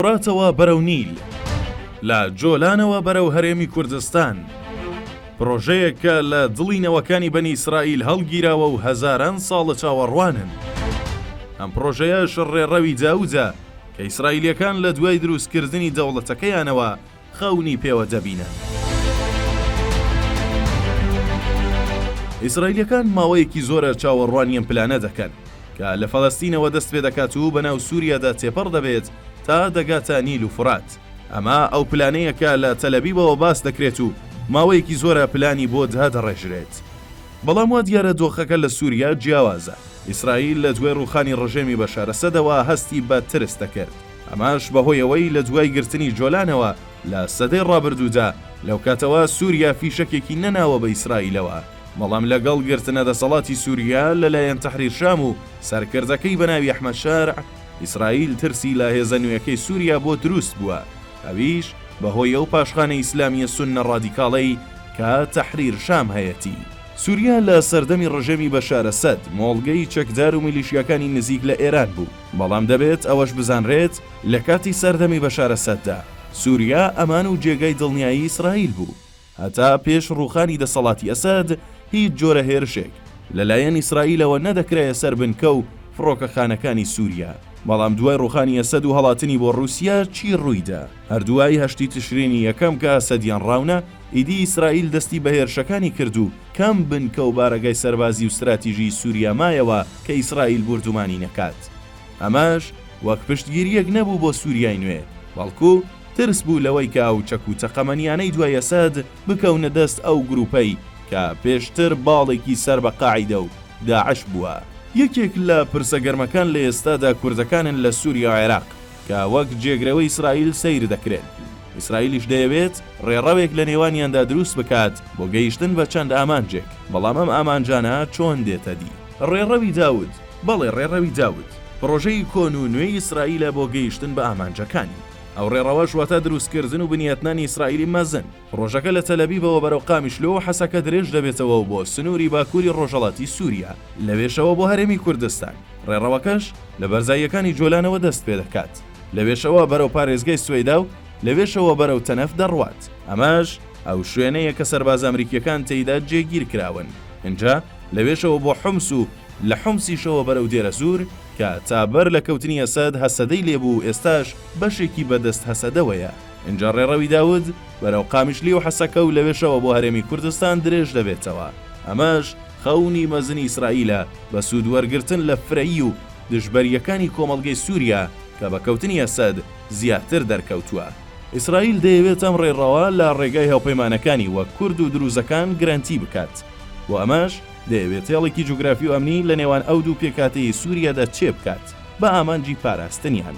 فوراتەوە بەرەو نیل، لە جۆلانەوە بەرەو هەرێمی کوردستان، پرۆژەیەک کە لە دڵی نەوەکانی بەنی ئیسرائیل هەڵگیراوە و هەزاران ساڵە چاوەڕوانن. ئەم پرۆژەیەش ڕێڕەوی داودە کە ئیسرائیلییەکان لە دوای دروستکردنی دەوڵەتەکەیانەوە، خەونی پێوە دەبینن. ئیسرائیلیەکان ماوەیەکی زۆرە چاوەڕوانی ئەم پلانە دەکەن، کە لە فەلەستینەوە دەست پێ دەکات و بەناو سوریادا تێپەڕ دەبێت تا دەگاتە نیل و فورات. ئەمە ئەو پلانەیە کە لە تەلەبیبەوە باس دەکرێت و ماوەیەکی زۆرە پلانی بۆ دادەڕێژرێت. بەڵام وا دیارە دۆخەکە لە سوریا جیاوازە. ئیسرائیل لە دوای ڕووخانی ڕژێمی بەشار ئەسەدەوە هەستی بە ترس دەکرد. ئەمەش بەهۆی ئەوەی لە دوای گرتنی جۆلانەوە لە سەدەی ڕابردوودا، لەوکاتەوە سووریا فیشەکێکی نەناوە بە ئیسرائیلەوە، بەڵام لەگەڵ گرتنە دەسەڵاتی سووریا لەلایەن تەحریر شام و سەرکردەکەی بە ناوی ئەحمەد شەرع، ئیسرائیل ترسی لە هێزە نوێکەی سووریا بۆ دروست بووە، ئەویش بەهۆی ئەو پاشخانە ئیسلامییە سوننە ڕادیکاڵەی کە تەحریر شام هەیەتی. سووریا لە سەردەمی ڕژێمی بەشار ئەسەد، مۆڵگەی چەکدار و میلیشیاکانی نزیک لە ئێران بوو. بەڵام دەبێت ئەوەش بزانرێت لە کاتی سەردەمی بەشار ئەسەددا، سوریا ئەمان و جێگای دڵنیایی ئیسرائیل بوو. هەتا پێش ڕووخانی دەسەڵاتی ئەسەد، هیچ جۆرە هێرشێک لە لایەن ئیسرائیلەوە نەدەکرایە سەر بنکە و فڕۆکەخانەکانی سوریا. بەڵام دوای ڕووخانی ئەسەد و هەڵاتنی بۆ ڕووسیا، چی ڕوویدا؟ هەر دوای هەشتی تشرینی یەکەم کە ئەسەدیان ڕاونا، ئیدی ئیسرائیل دەستی بە هێرشەکانی کرد و کام بنکە و بارەگای سەربازی و ستراتیژیی سووریا مایەوە کە ئیسرائیل بوردومانی نەکات؟ ئەمەش وەک پشتگیرییەک نەبوو بۆ سووریای نوێ، بەڵکو ترس بوو لەوەی کە ئەو چەک و تەقەمەنییانەی دوای ئەسەد بکەونە دەست ئەو گرووپەی کە پێشتر باڵێکی سەر بە قاعیدە و داعش بووە. یەکێک لە پرسە گەرمەکان لە ئێستادا کوردەکانن لە سووریا و عێراق. کە وەک جێگرەوەی ئیسرائیل سەیر دەکرێن، ئیسرائیلیش دەیەوێت ڕێڕەوێک لە نێوانیاندا دروست بکات بۆ گەیشتن بە چەند ئامانجێک، بەڵام ئەم ئامانجانە چۆن دێتە دی؟ ڕێڕەوی داود، بەڵێ ڕێڕەوی داود پڕۆژەی کۆن و نوێی ئیسرائیلە بۆ گەیشتن بە ئامانجەکانی، ئەو ڕێڕەوەش واتە دروستکردن و بنیاتنانی ئیسرائیلی مەزن، ڕۆژەکە لە تەلەبیبەوە بەرەو قامیشلۆ و حەسەکە درێژ دەبێتەوە و بۆ سنووری باکووری ڕۆژهەڵاتی سووریا، لەوێشەوە بۆ هەرێمی کوردستان، ڕێڕەوەکەش لە بەرزاییەکانی جۆلانەوە دەست پێ دەکات، لەوێشەوە بەرەو پارێزگای سوەیدا و لەوێشەوە بەرەو تەنەف دەڕوات. ئەمەش ئەو شوێنەیە کە سەربازە ئەمریکییەکان تێیدا جێگیر کراون. ئینجا لەوێشەوە بۆ حومس و لە حومسیشەوە بەرەو دێرەزوور، کە تا بەر لە کەوتنی ئەسەد هەسەدەی لێ بوو و ئێستاش بەشێکی بەدەست هەسەدەوەیە. ئینجا ڕێڕەوی داود بەرەو قامیشلی و حەسەکە و لەوێشەوە بۆ هەرێمی کوردستان درێژ دەبێتەوە، ئەمەش خەونی مەزنی ئیسرائیلە بە سوود وەرگرتن لە فرەیی و دژبەرییەکانی کۆمەڵگەی سووریا کە بە کەوتنی ئەسەد زیاتر دەرکەوتووە. ئیسرائیل دەیەوێت ئەم ڕێڕەوە لە ڕێگای هاوپەیمانەکانی وەک کورد و دروزەکان گرەنتی بکات، بۆ ئەمەش دەیەوێت هێڵێکی جوگرافی و ئەمنی لە نێوان ئەو دوو پێکهاتەی سووریادا چێبکات بە ئامانجی پاراستنیان.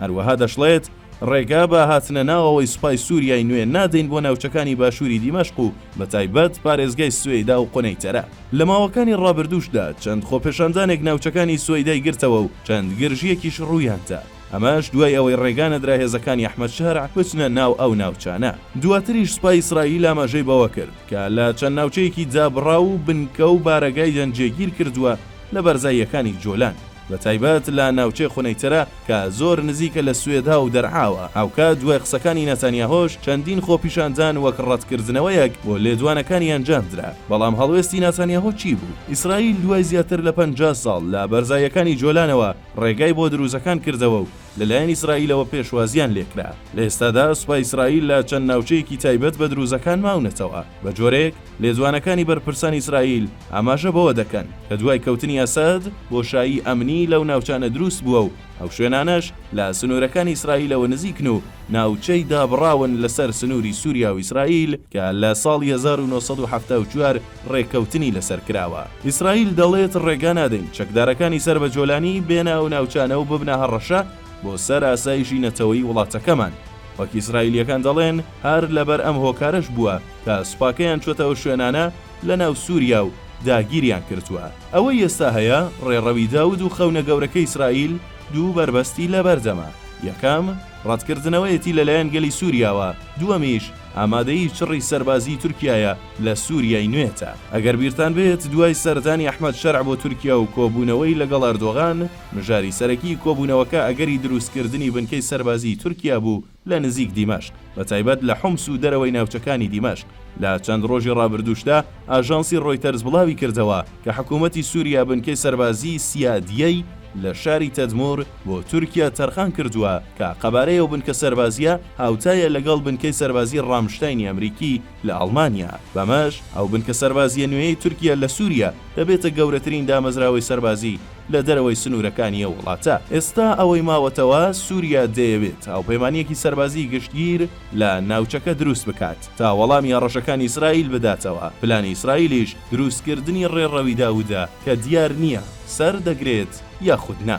هەروەها دەشڵێت، ڕێگا بە هاتنە ناوەوەی سوپای سووریای نوێ نادەین بۆ ناوچەکانی باشووری دیمەشق و بەتایبەت پارێزگای سوەیدا و قونەیتەرە. لە ماوەکانی ڕابردووشدا چەند خۆپێشاندانێک ناوچەکانی سوەیدای گرتەوە و چەند گرژییەکیش ڕوویاندا، ئەمەش دوای ئەوەی ڕێگا نەدرا هێزەکانی ئەحمەد شەرع بچنە ناو ئەو ناوچانە. دواتریش سوپای ئیسرائیل ئاماژەی بەوە کرد کە لە چەند ناوچەیەکی دابڕاو و بنکە و بارەگایدان جێگیر کردووە لە بەرزاییەکانی جۆلان. بە تایبەت لە ناوچەی خنەیترە کە زۆر نزیکە لە سوێدا و دەرعاوە. هاوکات دوای قسەکانی ناتانیاهۆش چەندین خۆپیشاندان وەک ڕەتکردنەوەیەک بۆ لێدوانەکانی ئەنجامدرا. بەڵام هەڵوێستی ناتانیاهۆ چی بوو؟ ئیسرائیل دوای زیاتر لە پەنجا ساڵ لە بەرزاییەکانی جۆلانەوە ڕێگای بۆ دروزەکان کردەوە و لەلایەن ئیسرائیلەوە پێشوازییان لێکرا. لە ئێستادا سوپای ئیسرائیل لە چەند ناوچەیەکی تایبەت بە دروزەکان ماونەتەوە، بە جۆرێک، لێدوانەکانی بەرپرسانی ئیسرائیل ئاماژە بەوە دەکەن کە دوای کەوتنی ئەسەد بۆشایی ئەمنی لەو ناوچانە دروست بووە و ئەو شوێنانەش لە سنوورەکانی ئیسرائیلەوە نزیکن و ناوچەی دابڕاون لەسەر سنووری سووریا و ئیسرائیل کە لە ساڵی هەزار و نۆ سەد و حەفتا و چوار ڕێککەوتنی لەسەر کراوە. ئیسرائیل دەڵێت ڕێگا نادەین چەکدارەکانی سەر بە جۆلانی بێنە ئەو ناوچانە و ببنە هەڕەشە بۆ سەر ئاسایشی نەتەوەیی وڵاتەکەمان. وەک ئیسرائیلییەکان دەڵێن، هەر لەبەر ئەم هۆکارەش بووە کە سوپاکەیان چۆتە ئەو شوێنانە لە ناو سوریا و داگیریان کردووە. ئەوەی ئێستا هەیە ڕێڕەوی داود و خەونە گەورەکەی ئیسرائیل دوو بەربەستی لەبەردەمە، یەکەم ڕەتکردنەوەیەتی لەلایەن گەلی سوریاوە، دووەمیش ئامادەیی چڕی سەربازیی تورکیایە لە سوریای نوێتە. ئەگەر بیرتان بێت دوای سەردانی ئەحمەد شەرع بۆ تورکیا و کۆبوونەوەی لەگەڵ ئەردۆغان، مژاری سەرەکیی کۆبوونەوەکە ئەگەری دروستکردنی بنکەی سەربازیی تورکیا بوو، لە نزیک دیمەشق، بە تایبەت لە حومس و دەرەوەی ناوچەکانی دیمەشق. لە چەند ڕۆژی ڕابردووشدا، ئاژانسی ڕۆیتەرز بڵاوی کردەوە کە حکوومەتی سووریا بنکەی سەربازیی سیادیەی لە شاری تەدموور بۆ تورکیا تەرخان کردووە کە قەبارەی ئەو بنکە سەربازییە هاوتایە لەگەڵ بنکەی سەربازیی ڕامشتاینی ئەمریکی لە ئەڵمانیا. بەمەش ئەو بنکە سەربازییە نوێیەی تورکیا لە سووریا دەبێتە گەورەترین دامەزراوەی سەربازی لە دەرەوەی سنوورەکانی ئەو وڵاتە. ئێستا ئەوەی ماوەتەوە، سووریا دەیەوێت هاوپەیمانییەکی سەربازیی گشتگیر لە ناوچەکە دروست بکات، تا وەڵامی هەڕەشەکانی ئیسرائیل بداتەوە، پلانی ئیسرائیلیش دروستکردنی ڕێڕەوی داوودە، کە دیار نییە سەر دەگرێت یاخود نا.